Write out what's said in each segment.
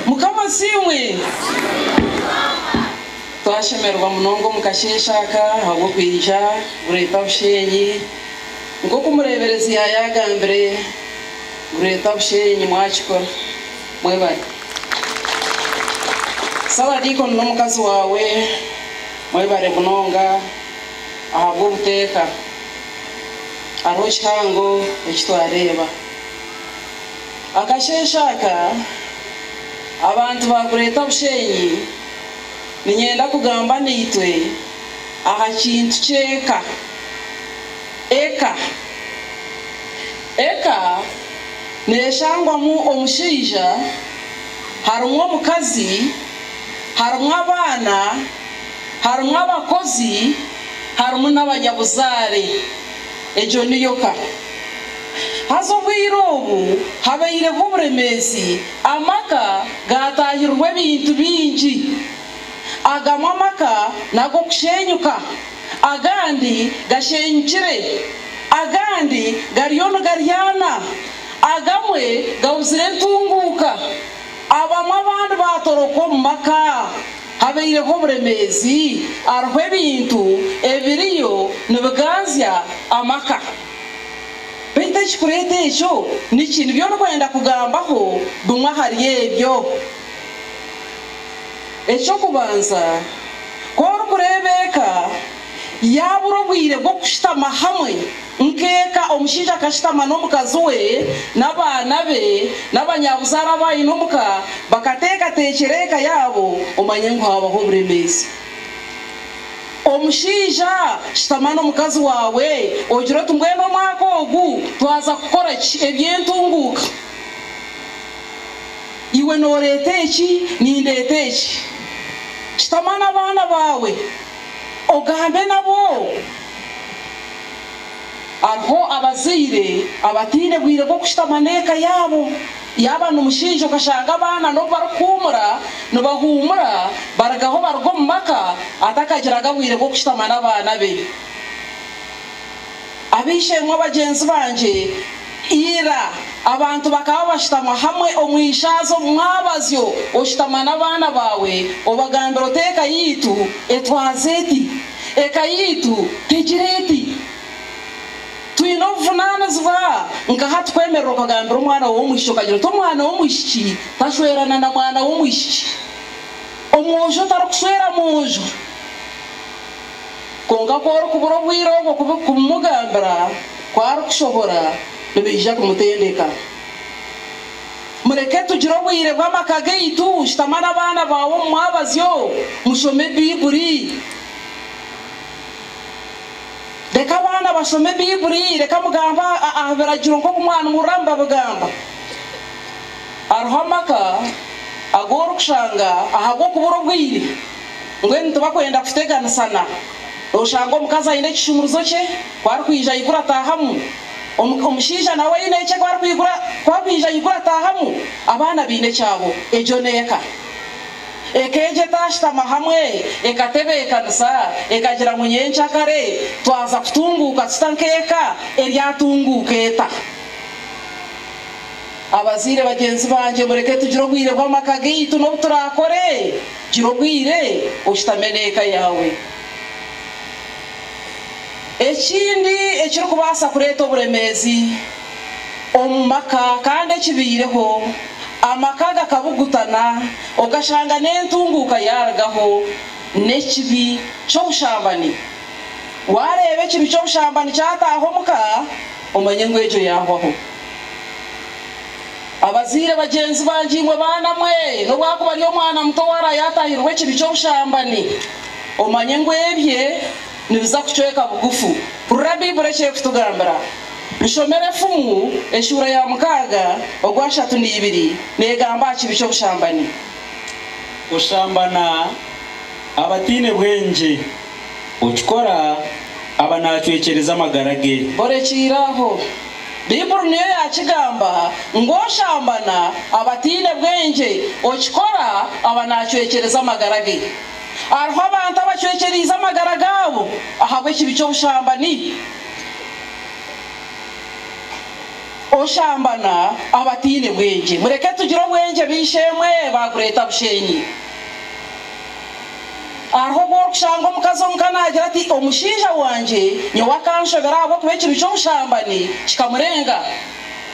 Mukama asiimwe! Twashemererwa munonga omu kasheeshe aka ahabw'okwija Bureeta Busheenyi. Nk'oku omureeberezi yaayagambire, Bureeta Busheenyi mwakikora. Mwebare. Ssabadiikoni n'omukazi waawe, mwebare munonga ahabw'obuteeka. Hariho kihango eki twareeba. Akasheeshe aka abantu baakureeta Bushenyi niinyenda kugamba naitwe aha kintu ky'eka. Eka. Eka neeshangwamu omushaija, harimu omukazi, harimu abaana, harimu abakozi, harimu n'abanyabuzaare. Egyo niyo ka. Haza obwire obu habaireho oburemeezi, amaka gaataahirirwa ebintu bingi. Agamwe amaka n'ag'okusheenyuka, agandi gasheenyukire, agandi gariyo nigaryana, agamwe gabuzire entunguuka, abamwe abandi baatoroka omu maka. Habaireho oburemeezi hariho ebintu ebiriyo nibiganzya amaka. Baitu ekirikureeta ekyo niki? Nibyo orikwenda kugambaho bimwe ahari ebyo. Eky'okubanza, ku orikureeba eka, Yaabura obwire bw'okushutama hamwe nk'eka, omushaija akashutama n'omukazi we n'abaana be n'abanyabuzaare abaine omu ka, bakateekateekyera eka yaabo, omanye ngu haabaho oburemeezi. Omushaija, shutama n'omukazi waawe ogire oti, Mbwenu omwaka ogu twaza kukora ki? Eby'entunguuka. Iwe nooreeta eki, nindeeta eki. Shutama n'abaana baawe. Ogambe nabo. Hariho abazaire abataine bwire bw'okushutama n'eka yaabo. Yaaba ni mushaija okashanga abaana n'obu barikuhuumura nibahuumura barigaho baruga omu maka atakagiraga bwire bw'okushutama n'abaana be. Ab'eishe-emwe bagyenzi bangye, ira abantu bakaba bashutama hamwe omu ishaaza omu mwabazyo, oshutama n'abaana baawe, obagambira oti, Eka yaitu etwaza eti, eka yaitu tegira eti. Twine obuvunaanizibwa nkaha tukwemerera okagambira omwana w'omwishiki okagira oti, Omwana w'omwishiki tashwerana na mwana w'omwishiki. Omwojo tarikushwera mwojo. Kwonka ku orikubura obwire obwo kubimugambira, ku arikushohora nibiija kumutendeka. Mureke tugire obwire bw'amaka gaitu. Shutama n'abaana baawe omu mwabazyo, mushome Baibuli. Reka abaana bashome Baibuli. Reka mugambe aha biragiro nk'oku mwanihurira mbabigamba. Hariho amaka agu orikushanga ahabw'okubura obwire Mbwenu tibakwenda kuteganisana. Oshanga omukazi aine ekishumurizo kye, ku arikwija aigura ataahamu. Omushaija nawe aine ekye ku akwija aigura ataahamu. Abaana baine ekyabo. Egyo n'eka. Eka egyo etaashutama hamwe, ekatebeekanisa, ekagira ngu nyenkya kare twaza kutunguuka tuta nk'eka, eryatunguuka eta? Abazaire bagyenzi bangye, mureke tugire obwire bw'amaka gaitu n'obu turaakore. Gira obwire oshutame n'eka yaawe. Ekindi ekirikubaasa kureeta oburemeezi omu maka kandi ekibaireho, amaka gakabugutana okashanga n'entunguuka yaarugaho, n'ekibi ky'obushambani. Waareeba ekibi ky'obushambani kyataaha omu ka, omanye ngu egyo yaahwaho. Abazaire bagyenzi bangye imwe baana mwe, n'obwakuba ari omwana muto owaaraaba yaatahirwe ekibi ky'obushambani, omanye ngu ebye nibiza kucweka bugufu. Hurira Baiburi eki erikutugambira. Nshomera Efumu eshuura ya mukaaga ogwa ashatu n'eibiri neegamba aha kibi ky'obushambani. Kushambana abataine bwengye. Okikora aba naacwekyereza amagara ge. Orekiire aho. Baibuli niyo yaakigamba ngu oshambana aba ataine bwengye. Okikora aba naacwekyereza amagara ge. Hariho abantu abacwekyereize amagara gaabo ahabw'ekibi ky'obushambani. Oshambana aba ataine bwengye. Mureke tugire obwengye, baishe-emwe, baakureeta busheenyi. Hariho obu orikushanga omukazi omuka naagira ati, Omushaija wangye nyowe akanshobera ahabw'okuba ekibi ky'obushambani kikamurenga.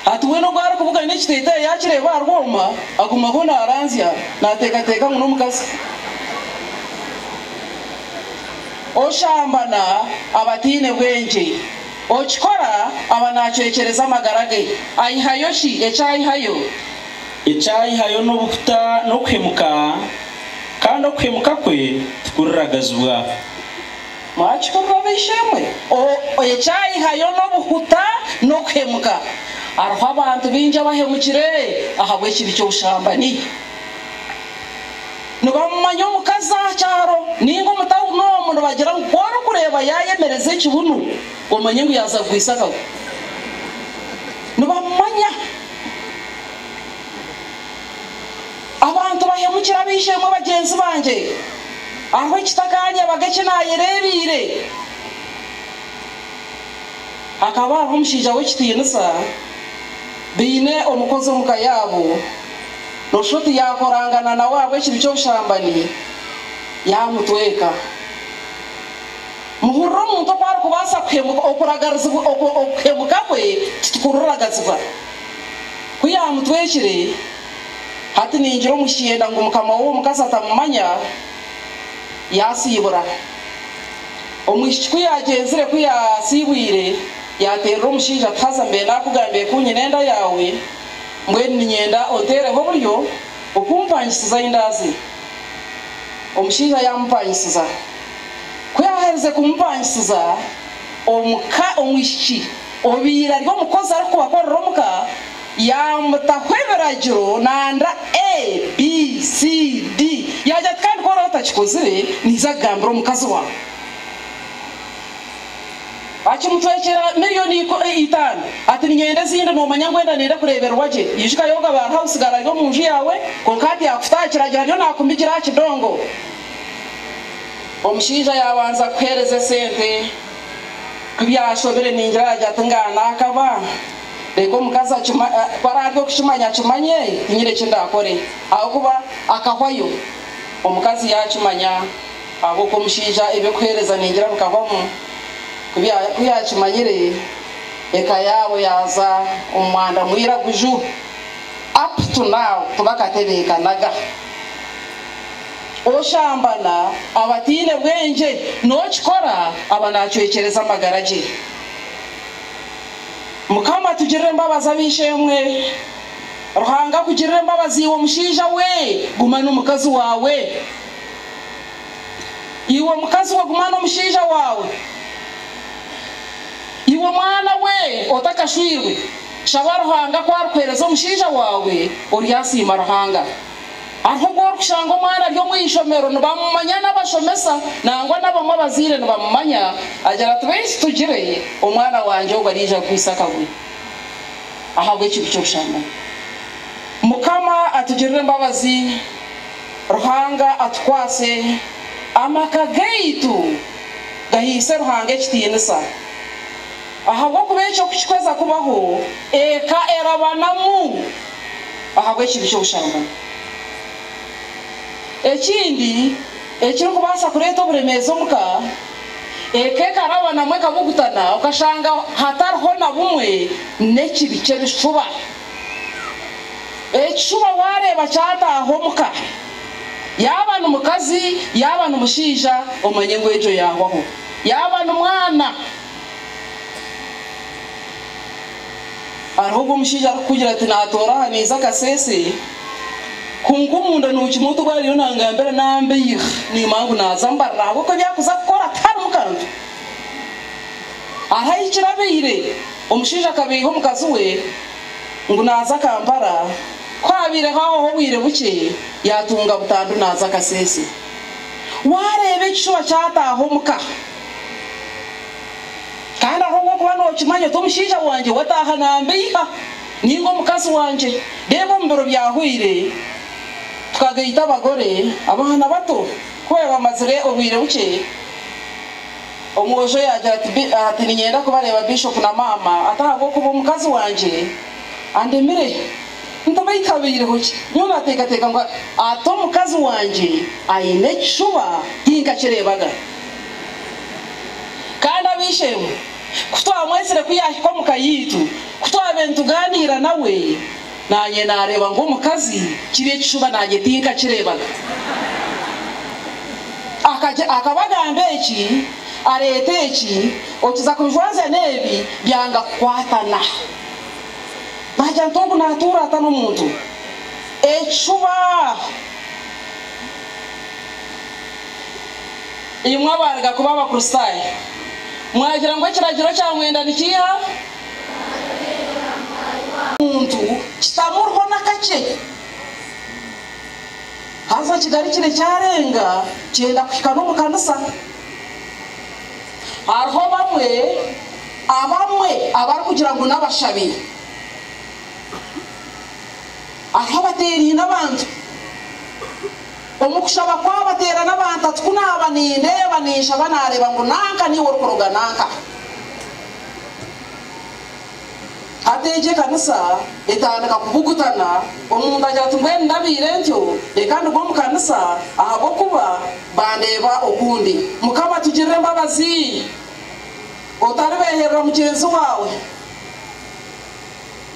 Hati weena obu arikubugana ekiteteeyi yaakireeba aha rwoma, agumaho naaranzya, naateekateeka ngu n'omukazi. Oshambana aba ataine bwengye. Okikora aba naacwekyereza amagara ge. Aihayo ki? Ekyaihayo. Ekyaihayo n'obuhuta n'okuhemuka. kandi okuhemuka kwe tikuragazibwa. Mwakihurira ab'eishe-emwe? O, ekyaihayo n'obuhuta n'okuhemuka. Hariho abantu baingi abahemukire ahabw'ekibi ky'obushambani. Nibamumanya omukazi aha kyaro nainga omu tauni omu nibagira ngu ku orikureeba yaayemereza ekibunu, omanye ngu yaaza kugwisa akagu. Nibamumanya. Abantu bahemukira ab'eishe-emwe bagyenzi bangye, hariho ekitakaaryabaga eki naayereebeire. Hakaba hariho omushaija w'ekitiinisa, baine omukozi omu ka yaabo, nooshusha oti yaakorangana nawe ahabw'ekibi ky'obushambani, yaamutweka. Muhurire omuntu oku arikubaasa kuhemuka, okuragarizibwa, okuhemuka kwe titukuriragazibwa. Ku yaamutwekire. Hati ningira omu kyenda ngu mukama w'owo mukazi atamumanya, yaasiibura. Omwishiki ku yaagyenzire, ku yaasiibwire, yaateerera omushaija ati, Haza mbe naakugambiire ku nyine enda yaawe, mbwenu niinyenda onteereho oburyo okumpangisiza ei ndaaze. Omushaija yaamupangisiza. Ku yaaherize kumupangisiza, omuka omwishiki obaire ari omukozi arikubakorera omuka, Yaamutaho ebiragiro nanda A, B, C, D. Yaagira ati, Kandi ku oraabe otakikozire, niija kugambira omukazi waawe. Akimutwekyera milioni itaano. Ati, Niinyenda ezindi. Noomanya ngu enda niinyenda kureebererwa gye. Ijuka Yoga ba House Girl ari omu nju yaawe, kwonka hati yaakuta aha kiragiro ariyo naakumigira aha kidongo. Omushaija yaabanza kukuheereza esente. Ku byashobire, niingira yaagira ati, Ngaha naakaba. Reeka omukazi akimanye, ku araabe okukimanya akimanye, tinyine eki ndaakore. Ahabw'okuba akahwayo. Omukazi yaakimanya, ahabw'oku omushaija eby'okuheereza ningira bikahwamu. Ku yaakimanyire, eka yaabo yaaza omu mwanda mwiraguju. Up to now tibakatebeekanaga. Oshambana aba ataine bwengye, n'okikora aba naacwekyereza amagara ge. Mukama tugirire embabazi ab'eishe-emwe. Ruhanga akugirire embabazi iwe mushaija we, guma n'omukazi waawe. Iwe mukazi we guma n'omushaija waawe. Iwe mwana we otakashwirwe, shaba Ruhanga ku arikuheereza omushaija waawe oryasiima Ruhanga. Aho obwo orikushanga omwana ari omu ishomero nibamumanya n'abashomesa nangwa n'abamwe abazaire nibamumanya, agira ati, Beitu tugire omwana wangye ogwo araija kuguhisa akaguru ahabw'ekintu ky'obushambani. Mukama atugirire embabazi, Ruhanga atukwase, amaka gaitu gahaise Ruhanga ekitiinisa. Ahabw'okuba ekyo ku kikuheza kubaho, eka erabanamu. ahabw'ekintu ky'obusharwa. Ekindi ekirikubaasa kureeta oburemeezi omu ka, eka ekaraba namwo ekabugutana okashanga hatariho na bumwe n'ekibi ky'ebishuba. Ekishuba waareeba kyataaha omu ka, yaaba ni mukazi yaaba ni mushaija omanye ngu egyo yaahwaho, yaaba ni mwana. Hariho ogu omushaija arikukugira ati, Naatoora aha niiza akaseese, kwonka omunda nookimanya oti obu ariyo naangambira naambeihya, niimanya ngu naaza mbarira ahabw'oku ebi arikuza kukora tiharimu kantu. Ahu ahikire abaire, omushaija akabeiha omukazi we ngu naaza Kampala, ku abaire ahwaho obwire bukye, yaatunga butandu naaza akaseese. Waareeba ekishuba kyataaha omuka! Kandi ahabw'okuba nookimanya oti omushaija wangye wataaha nambeiha, ninga omukazi wangye, reeba omu biro byahwaire tukagaita abagore, abaana bato ku baabaire bamazire obwire bukye, omwojo yaagira ati, Niinyenda kubareeba Bishop na Maama, ati ahabw'okuba omukazi wangye andemire, ntabaita habaireho ki? Nyowe naateekateeka ngu ati omukazi wangye aine ekishuba tinkakireebaga. Kandi ab'eishe-emwe, ku twamwetsire ku yaahika omu ka yaitu, ku twaabaire nitugaaniira nawe, naanye naareeba nk'omukazi, kiri ekishuba naanye tinkakireebaga. Akagira, akaba agamba eki, areeta eki, okiza kubijwazya n'ebi, byanga kukwatana. Naagira nti, Ogu naatuura ata n'omuntu? Ekishuba! Imwe abaaruga kuba Abakristaayo, mwagira ngu ekiragiro kya mwenda nikiiha? Omuntu kitamuriho n'akakye. Haza okigarukire kyarenga kyenda kuhika n'omu kanisa. Hariho bamwe abamwe abarikugira ngu n'abashabi. Hariho abateeraine abantu. Omu kushaba kwabo ateera n'abantu ati, Ku naaba nindeeba, ninshaba naareeba ngu nanka niiwe orikuruga nanka. Hati egyo ekanisa etandika kubugutana, omuntu agira ati, Mbwenu ndabaire ntyo, reka nduge omu kanisa ahabw'okuba bandeeba okundi. Mukama tugirire embabazi! Otaribeeherera mugyenzi waawe.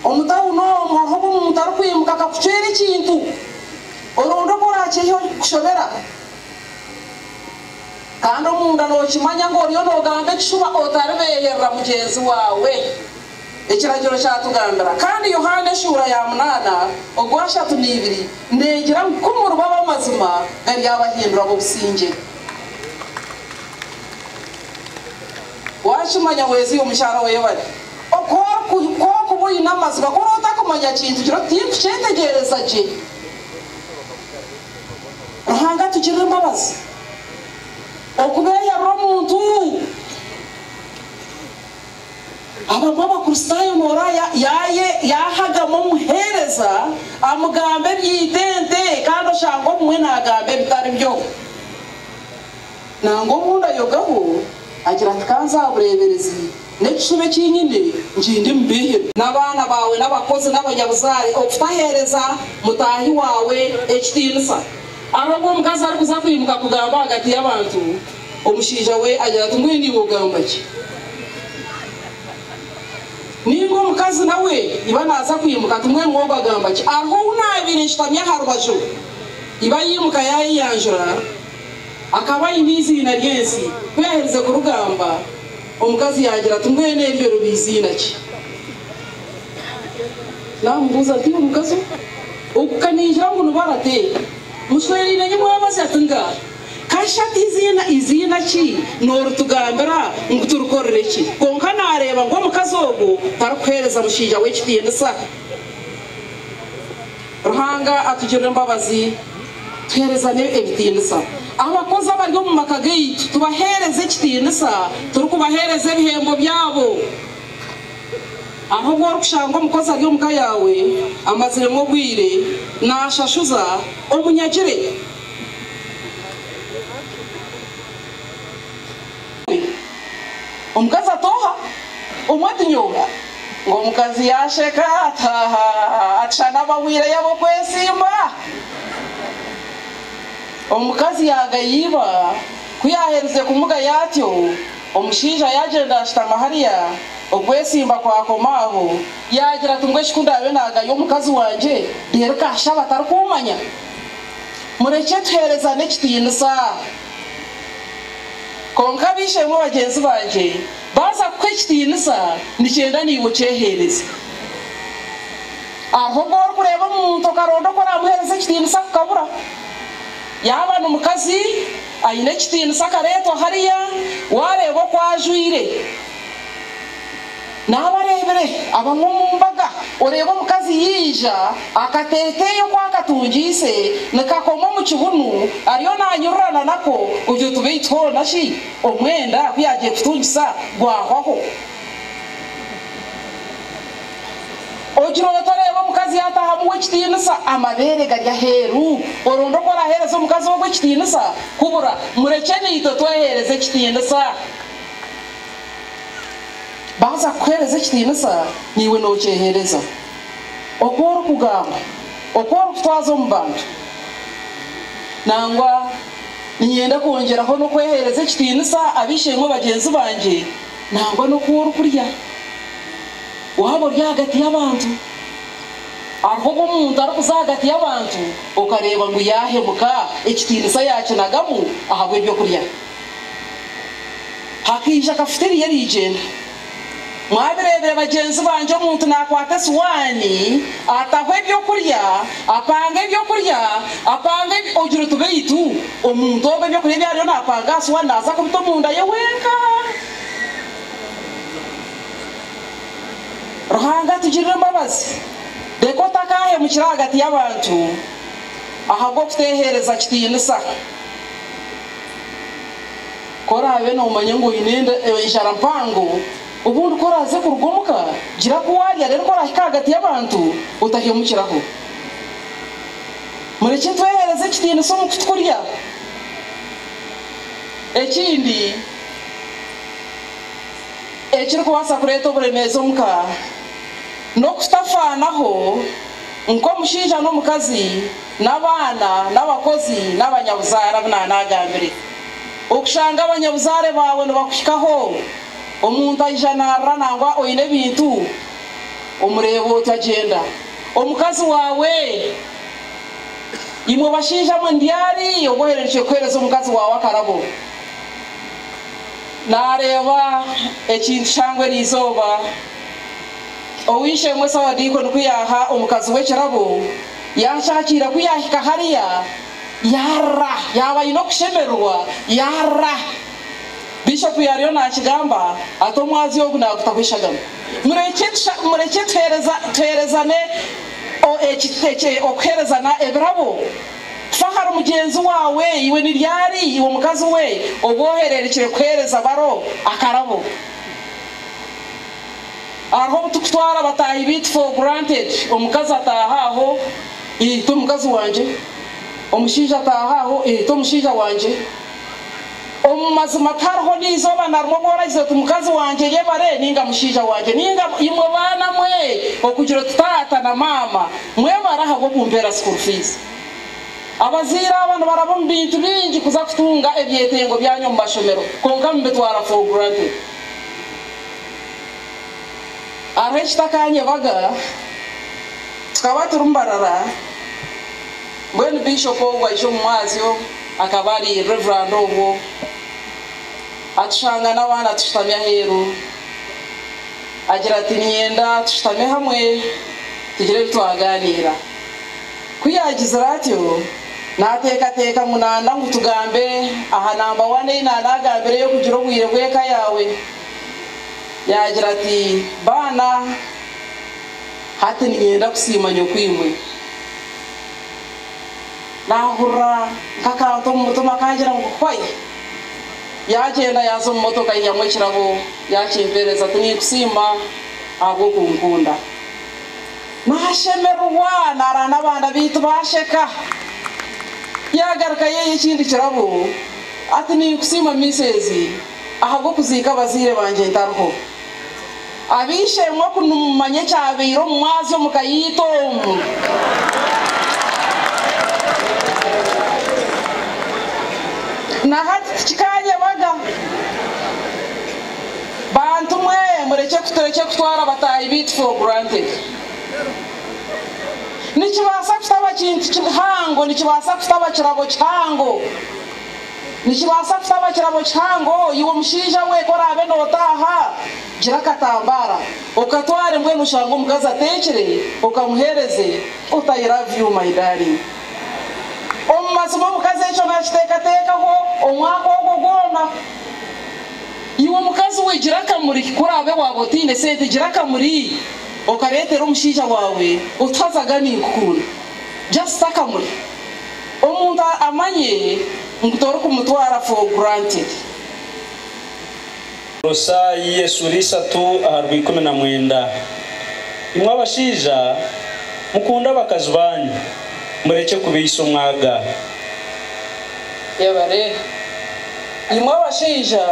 Omu tauni omu hariho obu omuntu arikwimuka akakucwera ekintu, oronda oku oraakyehihaho kikushobera. Kandi omunda nookimanya ngu oriyo noogamba ekishuba otaribeeherera mugyenzi waawe. Ekiragiro kyatugambira kandi Yohaana eshuura ya munaana ogwashatu neibiri neegira ngu ku muriba ab'amazima garyabahindura ab'obusingye. Waakimanya weezire omukyara wa Ebadi. Ku orikuba oine amazima, ku oraba otakumanya kintu, gira oti, Tinkukyetegeereza gye. Ruhanga atugirire embabazi. Okubeeyarira omuntu. Abamwe Abakristaayo nooreeba yaahagama omuheereza amugamba eby'eitente kandi oshange obumwe naagamba ebitari byo. Nangwa obu ndayogaho, agira ati, Ka nze aha bureeberezi, n'ekishuba eki nyine nkindimubeihera. N'abaana baawe n'abakozi n'abanyabuzaare okutaheereza mutaahi waawe ekitiinisa. Ahabw'obu omukazi arikuza kwimuka kugamba ahagati y'abantu, omushaija we agira ati, Mbwenu iwe ogamba ki? Nainga omukazi nawe iba naaza kwimuka ati, Mbwenu we ogagamba ki? Hariho ou naabaire nshutami aha rubaju. Iba yaimuka yaayeyanjura. Akaba aine eiziina ry'ensi. Ku yaaherize kurigamba, omukazi yaagira ati, Mbwenu eryo riba eiziina ki? Naamubuuza ati, Iwe mukazi ogwo, oku ka naigira ngu ni Barate, mushweraine nyu mwabaze? Ati, Nga ka shi ati eiziina, eiziina ki nooritugambira ngu turikorere ki? Kwonka naareeba ngu omukazi ogwo tarikuheereza mushaija we kitiinisa. Ruhanga atugirire embabazi tuheerezane ebitiinisa. Abakozi abari omu maka gaitu tubaheereze ekitiinisa turikubaheereza ebihembo byabo. Hariho obu orikushanga omukozi ari omu ka yaawe amaziremu obwire naashashuza, omunyagire. Omukazi atooha omwe ati, Nyowe. Ngu omukazi yaasheka ati, Haaha, ati shana abahwire yaba okwesimba. Omukazi yaagaya iba. Ku yaaherize kumugaya atyo, omushaija yaagyenda ashutama hariya, okwesimba kwakoma aho. Yaagira ati, Mbwenu eki ku ndaabe naagaya omukazi wangye, reero ka ashabe atarikummanya? Murekye tuheerezane ekitiinisa. Kwonka ab'eishe-emwe bagyenzi bangye baaza kukuha ekitiinisa, nikyenda naiwe okyeheereze. Hariho obu orikureeba omuntu okaronda oku oraamuheereza ekitiinisa kukabura. Yaaba ni mukazi aine ekitiinisa akareetwa hariya, waareeba oku ajwaire, Naaba areebire abamwe omu mbaga, oreeba omukazi yaija, akateeteeyi oku akatungiise nikakoma omu kibunu, ariyo naanyururana nako kugira oti beitu hoona shi omwenda ku yaagiire kutungisa gwahwaho? Ogira oti oreeba omukazi yaataaha amuha ekitiinisa, amabeere gari aheeru, oronda oku oraaheereza omukazi ogwo ekitiinisa? Kubura! Murekye naitwe tweheereze ekitiinisa. Baaza kukuheereza ekitiinisa, naiwe nookyeheereza. Oku orikugamba, oku orikutwaza omu bantu, nangwa niinyenda kwongyeraho n'okweheereza ekitiinisa ab'eishe-emwe bagyenzi bangye, nangwa n'oku orikurya. Waaba ori ahagati y'abantu, hariho obu omuntu arikuza ahagati y'abantu okareeba ngu yaahemuka, ekitiinisa yaakinagamu ahabw'eby'okurya. Hakaija akafuta eriya erigyenda. Mwabireebire bagyenzi bangye omuntu nakwata esiwaani, ataho ebyokurya, apanga ebyokurya, apanga ebi, ogira oti beitu omuntu ogwe ebyokurya ebi ariyo napanga aha siwaani naza kubita omunda ye wenka? Ruhanga atugirire embabazi, reka otakahemukira ahagati y'abantu ahabw'okutehereza kitiinisa. Ku oraabe noomanya ngu oine enjara mpango, obundi ku oraaze kuruga omu ka, gira ku waarya reero ku oraahika ahagati y'abantu, otahemukiraho. Murekye tweheereze ekitiinisa omu ku turya. Ekindi ekirikubaasa kureeta oburemeezi omu ka, n'okutafaanaho nk'omushaija n'omukazi. N'abaana, n'abakozi, n'abanyabuzaare abu naanaagambire. Okushanga abanyabuzaare baawe nibakuhikaho, omuntu aija naarira nangwa oine ebintu, omureeba oti agyenda. Omukazi waawe, imwe bashaija mwe, ni ryari obu ohererukire kuheereza omukazi waawe akarabo? Naareeba ekintu kyangwa eriizooba, oweishe-emwe Sawadiiko nikuyaaha omukazi we ekirabo. Yaashaakiira ku yaahika hariya, yaarira. Yaaba aine okushemererwa, yaarira. Bishopu yaariyo naakigamba ati, Omwazi ogu naagutaho eshagama. Murekye murekye tuheereza tuheerezane o, eki eki okuheerezana ebirabo. Fa ahari mugyenzi waawe. Iwe ni ryari iwe mukazi we obu ohererekire kuheereza baro akarabo? Hariho obu turikutwara bataahi baitu for granted, omukazi ataaha aho, eeh t'omukazi wangye, omushaija ataaha aho, eeh t'omushaija wangye. Omu mazima tihariho n'eizooba na rimwe obu oragize oti mukazi wangye eyebare ninga mushaija wangye ninga imwe baana mwe okugira oti taata na maama mwebare ahabw'okumpeera school fees. Abazaire aba nibaraba omu bintu bingi kuza kutunga ebyetengo byanyu omu mashomero kwonka nibibitwara for granted. Hariho ekitakanyebaga, tukaba turi Mbarara, mbwenu Bishop ogu aija omu mwazyo, akaba ari Reverand obwo, atushanga n'abaana tushutami aheeru, agira ati niinyenda tushutame hamwe tugire ebi twagaaniira. Ku yaagizire atyo, naateekateeka ngu naanda ngu tugambe aha namba wani ei naanaagambire ey'okugira obwire bw'eka yaawe. Yaagira ati, Baana, hati niinyenda kusiima nyokwimwe. Naahurira nk'akantu omu mutima kaagira ngu, Hwai! Yaagyenda yaaza omu motoka aihamu ekirabo yaakimpeereza ati, Niinkusiima ahabw'okunkunda. Naashemererwa naarara n'abaana baitu baasheka. Yaagaruka yaiha ekindi kirabo ati, Niinkusiima Miisezi. ahabw'okuziika abazaire bangye ntariho. Ab'eishe-emwe ku nimumanya ekyabaire omu mwazyo omu ka yaitu omu. Na hati tikikaanyebaga. Bantu mwe, murekye turekye kutwara bataahi baitu for granted. Nikibaasa kutaba kintu kihango, nikibaasa kutaba kirabo kihango. Nikibaasa kutaba kirabo kihango, iwe omushaija we ku oraabe nootaaha, gira akatambaara okatware mbwenu oshange omukazi ateekire okamuheereze ota I love you my darling. Omu mazima omukazi ekyo naakiteekateekaho omwaka ogwo gwona. Iwe mukazi we gira akamuri ku oraabe waaba otaine sente gira akamuri okareetera omushaija waawe otu hazaga ninkukunda just akamuri. Omuntu amanye ngu torikumutwara for granted. Kolosai esura ishatu aharwa ikumi na mwenda Imwe abashaija, mukunde abakazi baanyu, murekye kubaisa omwaga. Yabare. Imwe abashaija,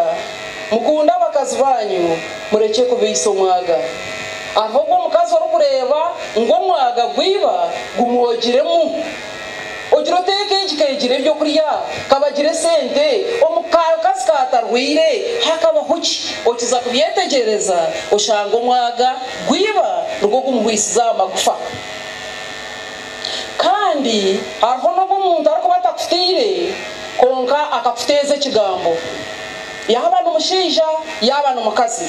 mukunde abakazi baanyu, murekye kubaisa omwaga. Ahobwe omukazi orikureeba ngu omwaga gwiba gumwogiremu. Ogira oteeka egi keegira eby'okurya, kabagira esente, omu kakazi kaatarwaire hakabaho ki? Okiza kubyetegyereza oshange omwaga gwaiba nigwo gumuhwisize aha magufa. Kandi hariho n'obu omuntu arikuba atakutiire kwonka akakuteeza ekigambo. Yaaba ni mushaija yaaba ni mukazi.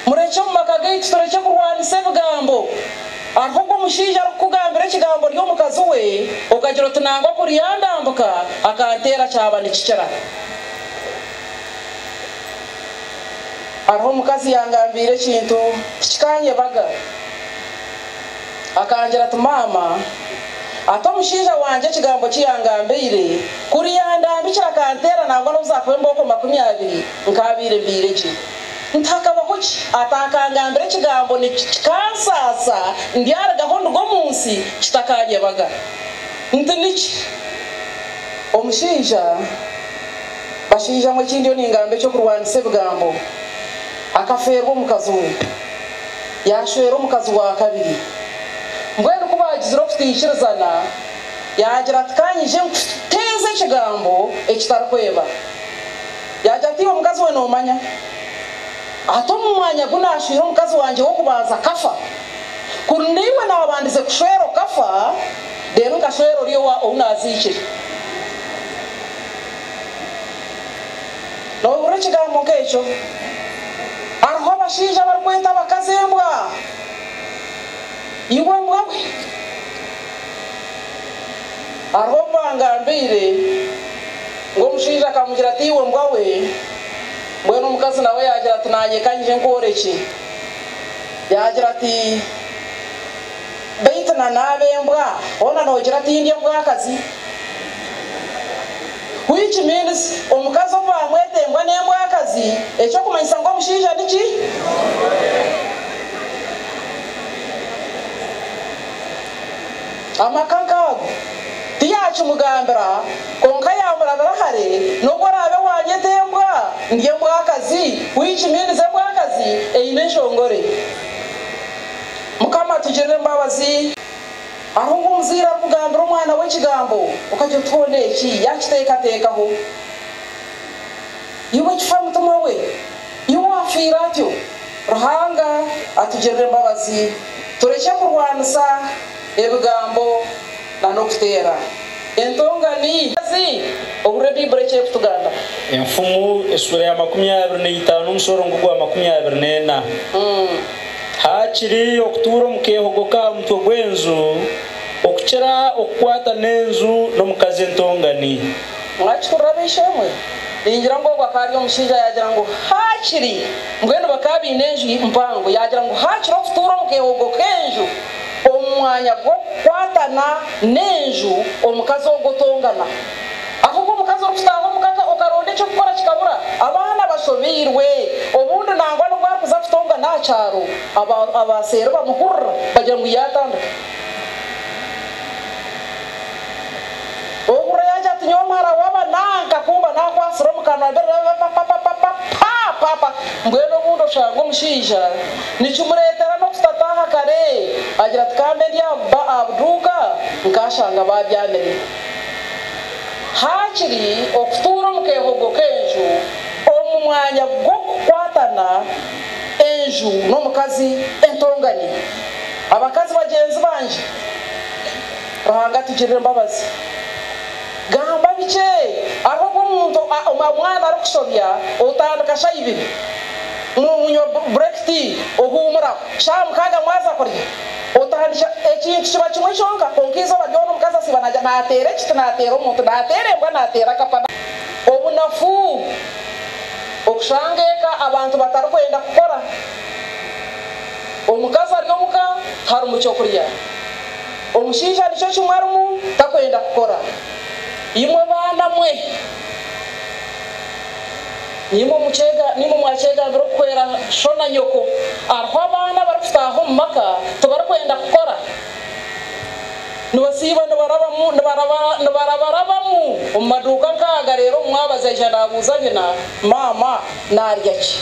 Murekye omu maka gaitu turekye kurwanisa ebigambo. Hariho ogu omushaija arikukugambira ekigambo ori omukazi we, okagira oti nangwa kuri yandambuka akanteera kyaba nikikira. Hariho omukazi yangambiire ekintu tikikanyebaga. Akangira ati, Maama, ati omushaija wangye ekigambo ki yangambeire, kuri yandambikira akanteera nangwa n'obu zaakuba embooko makumi abiri, nkaabaire mbaire gye. Nitihakabaho ki ataakangambira ekigambo niki kikansaasa ndyaruga aho nduga omu nsi kitakaanyebaga. Nti niki? Omushaija, bashaija mwe eki ndiyo ningamba eky'okurwanisa ebigambo, akafeerwa omukazi we, yaashwera omukazi wa kabiri. Mbwenu ku baagizire okutaikirizana, yaagira ati, Ka nyije nkuteeze ekigambo ekitarikweba. Yaagira ati, Iwe mukazi we noomanya ata omu mwanya gu naashwire omukazi wangye w'okubanza akafa? Kuri naiwe naabandize kushwera okafa, reero nkashwera ori ou naaziikire. Noobihurira ekigambo nk'ekyo? Hariho abashaija abarikweta abakazi embwa. Iwe mbwa we! Hariho obu bangambiire. Ngu omushaija akamugira ati, Iwe mbwa we! Mbwenu omukazi nawe yaagira ati, Naanye ka ngye nkworekye. Yaagira ati, Beitu na naaba embwa, hoona noogira ati, Ndi embwakazi? Which means, omukazi obu baamweta embwa n'embwakazi, eky'okumanyisa ngu omushaija ni ki? Ni murungi. Amaka nk'ago tiyaakimugambira, kwonka yaamurabira hare n'obu oraabe waanyeta embwa, ndi embwakazi, which means embwakazi eine enshongore. Mukama atugirire embabazi. Hariho nk'omuzaire arikugambira omwana we ekigambo, okagira oti hoona eki yaakiteekateekaho? Iwe ekifa mutima we! Iwe waafiire atyo! Ruhanga atugirire embabazi, turekye kurwanisa. ebigambo na n'okuteera entongani. Zi, ohurire Baibuli eki erikutugamba. Enfumu esuura ya makumi abiri na itaano omusorongo gwa makumi abiri na ena, Haakiri okutuura omu keehogo k'aha mutwe gw'enju, okukira okukwata n'enju n'omukazi entongani. Mwakihurira ab'eishe-emwe? Ningira ngu ogu akaba ari omushaija yaagira ngu haakiri, mbwenu bakaba baine enju mpango, yaagira ngu haakiri okutuura omu keehogo k'enju. omu mwanya gw'okukwatana n'enju omukazi ogwo tongana. Ahabw'oku omukazi orikutaaha omu ka ka okaronda eky'okukora kikabura, abaana bashobeirwe, obundi nangwa n'obu arikuza kutongana aha kyaro, aba abaaseeri bamuhurira bagira ngu yaatandika. Ohurre yangye ati nyowe muhara waba nanka kumba nakwasire omu kanwa be raba pa pa pa pa pa pa pa mbwenu obundi oshanga omushaija nikimuretera nokutata aha kare agira ati kambe ndi aha ba aha buduuka nkashanga babyamire hakiri okutuura omu kehogo kenju omu mwanya gwokukwatana enju nomukazi entonganya abakazi bagyenzi bangye. Ruhanga atugirire embabazi. Gamba bikye, hariho obu omuntu, omwana arikusobya, otandika shaaha ibiri, munywa break tea, ohuumuraho, shaaha mukaaga mwaza kurya, otandikira, ekintu kiba kimwe kyonka, kwonka eizooba ryona omukazi asiiba nagya, nateera ekiti, nateera omuntu, nateera embwa, nateera kapa, obunafu, okushanga eka abantu batarikwenda kukora, omukazi ari omuka, tiharimu ky'okurya. Omushaija nikyo kimwe arimu takwenda kukora. Imwe baana mwe, nimwo mwakyegambira okuhwera sho na nyoko. Hariho abaana abarikutaaha omu maka tibarikwenda kukora. Nibasiiba nibarabarabamu omu maduuka nk'aga reero omwabazi aija naabuuza nyina, Maama naarya ki?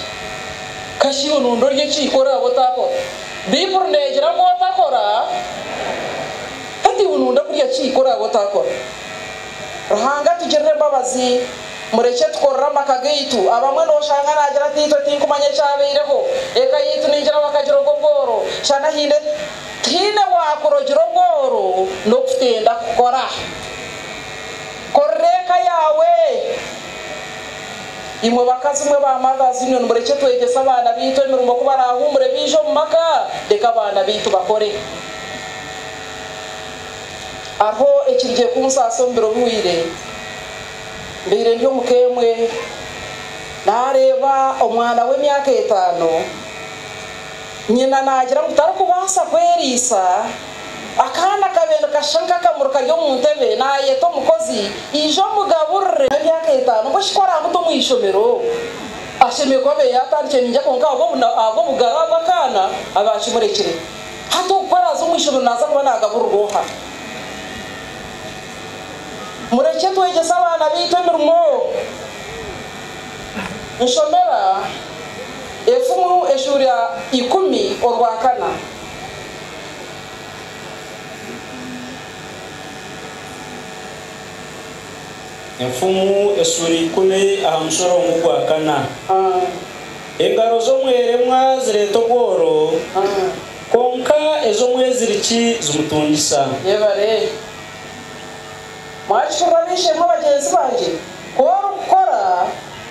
Kashi iwe noondi orye ki ku oraabe otaakora? Baibuli neegira ngu otakora, hati iwe nooyenda kurya ki ku oraabe otakora? Ruhanga atugirire embabazi. Murekye tukorere amaka gaitu. Abamwe nooshanga naagira ati, Itwe tinkumanya ekyabaireho. Eka yaitu ningira bakagiroga obworo. Shana haine tihaine waakurogira obworo n'okutenda kukora. Korera eka yaawe. Imwe bakazi mwe ba mothers inywe nimurekye twegyese abaana beitu emirimo ku barahuumure baije omu maka reka abaana beitu bakore. Hariho ekirigye kunsaasa omu biro biwire mbeire ndi omu ka emwe nareeba omwana w'emyaka etaano nyina nagira ngu tarikubaasa kweriisa Akaana kabe nikashusha nk'akamuri kari omu ntebe, naayeta omukozi, Ija omugaburire. Emyaka etaano ngu eshukwe araabe oti omu ishomero, ashemereire kuba abaire yaatandikire naija kwonka ahabw'obugaraa bw'akaana abe akimurekire. Hati oku araaza omu ishomero naaza kuba naagaburirwa oha? Murekye twegyese abaana baitu emirimo. Nshomera efumu eshuura ikumi orwakana. Enfumu esuura ikumi aha mushoroongo gwa kana. Engaro z'omweremwa zireeta obworo, kwonka ez'omweziriki zimutungisa. Mwakicurira ab'eishe-emwe bagyenzi bangye? Ku orikukora,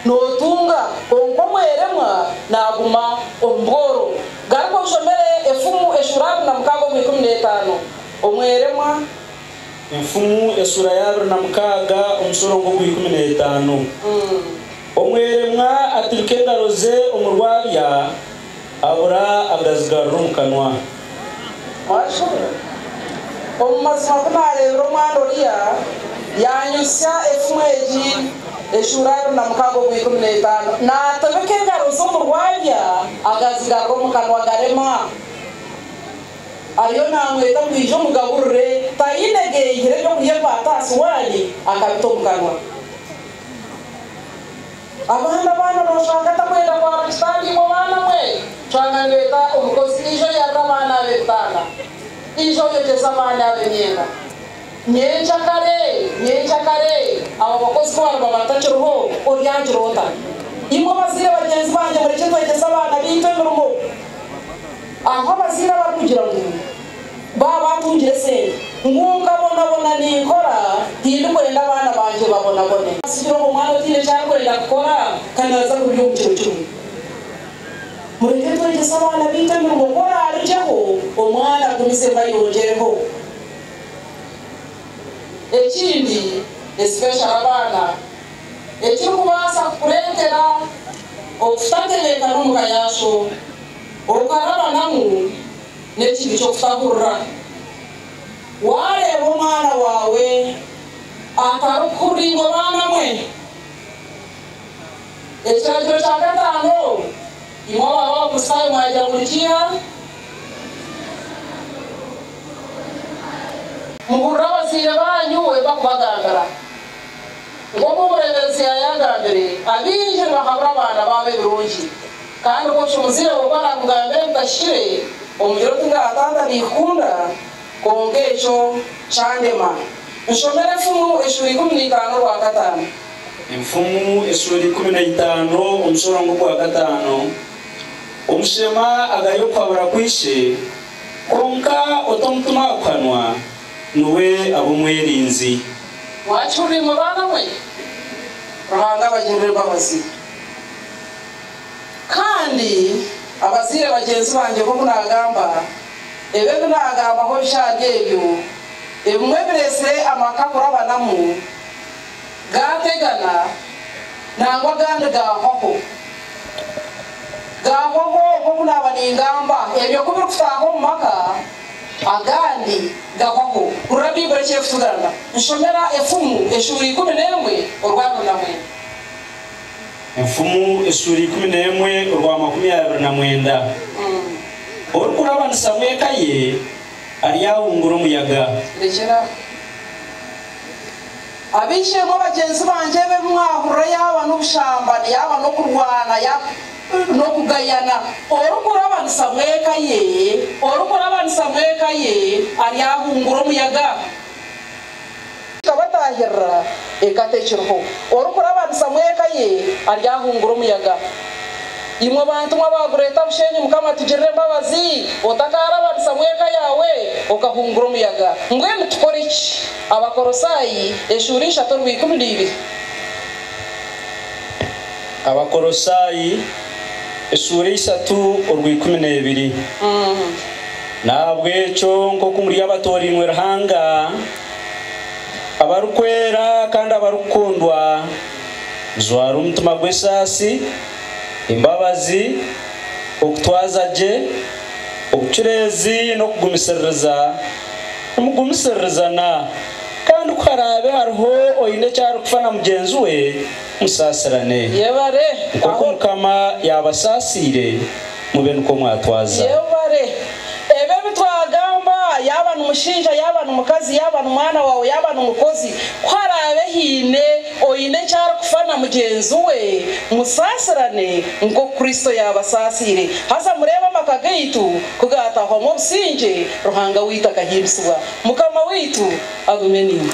nootunga, kwonka omweremwa naaguma omu bworo. Garuka oshomere Efumu eshuura abiri na mukaaga omu ikumi n'etaano. Omweremwa. Efumu eshuura y'abiri na mukaaga omushorongo ogw'ikumi n'etaano. Omweremwa aturika engaro ze omu rwabya, Abura agazigarura omu kanwa. Mwakishuburira? Omu mazima ku naareebire omwana oriya, yaanyutsya efumu egi, eshuura abiri na mukaaga omu ikumi n'etaano, naatobeka engaro ze omu rwabya, agazigarura omu kanwa garema. Ariyo naamweta ngu aije omugaburire, taine geihire eby'okurya ekwata aha suwaani, akabita omu kanwa. Abandi abaana bashanga atakwenda kwa buri kitanda imwe baana mwe shanga nibeta omukozi ija oyarira abaana abe ebitanda ija oyogyeza abandi abe emyenda nyenkya kare nyenkya kare abo abakozi kubariba batakiriho oryagira ota imwe abazaire bagyenzi bangye murekye twegyeze abaana beitu emirimo aho abazaire abarikugira ngu Baaba antungire sente ngu nkabonabona ninkora, tindikwenda abaana bangye babonabone. Sikiroho omwana otaine eki arikwenda kukora ka naaza kurya omu kiro kimwe. Mureke twegyese abaana baitu emirimo ku oraarugyeho omwana agumizemu ayongyereho. Ekindi, especially abaana, ekirikubaasa kukureetera okutatebeekana omu ka yaaso okarabanamu. N'ekintu ky'okutakurira waareeba omwana waawe atarikukuringa obaana mwe. Ekiragiro kya kataano, Imwe abaabe Abakristaayo mwagira ngu nikiiha? Muhurire abazaire baanyu we barikubagambira. Nk'oku omureeberezi yaayagambire, abaingi nibahabura abaana baabo ebirungi. Kandi ku nkimuzire oku aramugambire ngu tahikire omugire oti nga taata nikukunda kwonka ekyo kyandema. Nshomere Enfumu esura ikumi na itaano orwa kataano. Enfumu esura ikumi na itaano omushorongo ogwa kataano Omushema agari okuhabura kwa ishe, kwonka ota omutima aha kuhanwa niwe aba omwerinzi. Mwakihurire imwe baana mwe? Ruhanga abagirire embabazi. Kandi abazaire bagyenzi bangye nk'oku naagamba, ebi ebi naagambaho bishaaga ebyo, ebimwe biretsire amaka kurabanamu gaategana nangwa agandi gaahwaho. Gaahwaho nk'oku naaba ningamba ebyo ku birikutaaha omu maka, agandi gahwaho kurira Baibuli eki erikutugamba. Nshomera efumu eshuura ikumi n'emwe orwabiri na mwenda. Enfumu esuura ikumi n'emwe orwa makumi abiri na mwenda Orikurabanisamu eka ye aryahungura omuyaga. Rekyera aho. Ab'eishe-emwe bagyenzi bangye, ebi ebi mwahurira yaaba n'obushambani, yaaba n'okurwana, yaaba n'okugayana, orikurabanisamu eka ye, orikurabanisamu eka ye aryahungura omuyaga. Tabataahirira eka tekiriho orikurabanisa mu eka ye ari ahungura omuyaga. Imwe bantu mwe abaagureeta bushenyi Mukama atugirire embabazi otakaarabanisa mu eka yaawe okahungura omuyaga. Mbwenu tukore ki? Abakorosaayi eshuura ishatu orwa ikumi na ibiri. Abakorosaayi Eshuura ishatu orwa ikumi n'ebiri. N'ahabw'ekyo, nk'oku muri abatoorainwe Ruhanga, abarikwera kandi abarikukundwa, mujware omutima gw'esaasi, embabazi, okutwaza gye, obucureezi, n'okugumisiririza. Nimugumisiririzana, kandi ku haraabe hariho oine eki arikufa na mugyenzi we, musaasirane. Yebare Nk'oku aho. Mukama yaabasaasiire, mube nikwo mwatwaza. Yebare. Ebi ebi twagamba, yaaba ni mushaija, yaaba ni mukazi, yaaba ni mwana waawe, yaaba ni mukozi, ku haraabe haine oine eki arikufa na mugyenzi we, musaasirane nk'oku Kristo yaabasaasiire. Haza mureebe amaka gaitu ku gaataahwamu obusingye, Ruhanga waitu akahimbisibwa. Mukama waitu agume naimwe.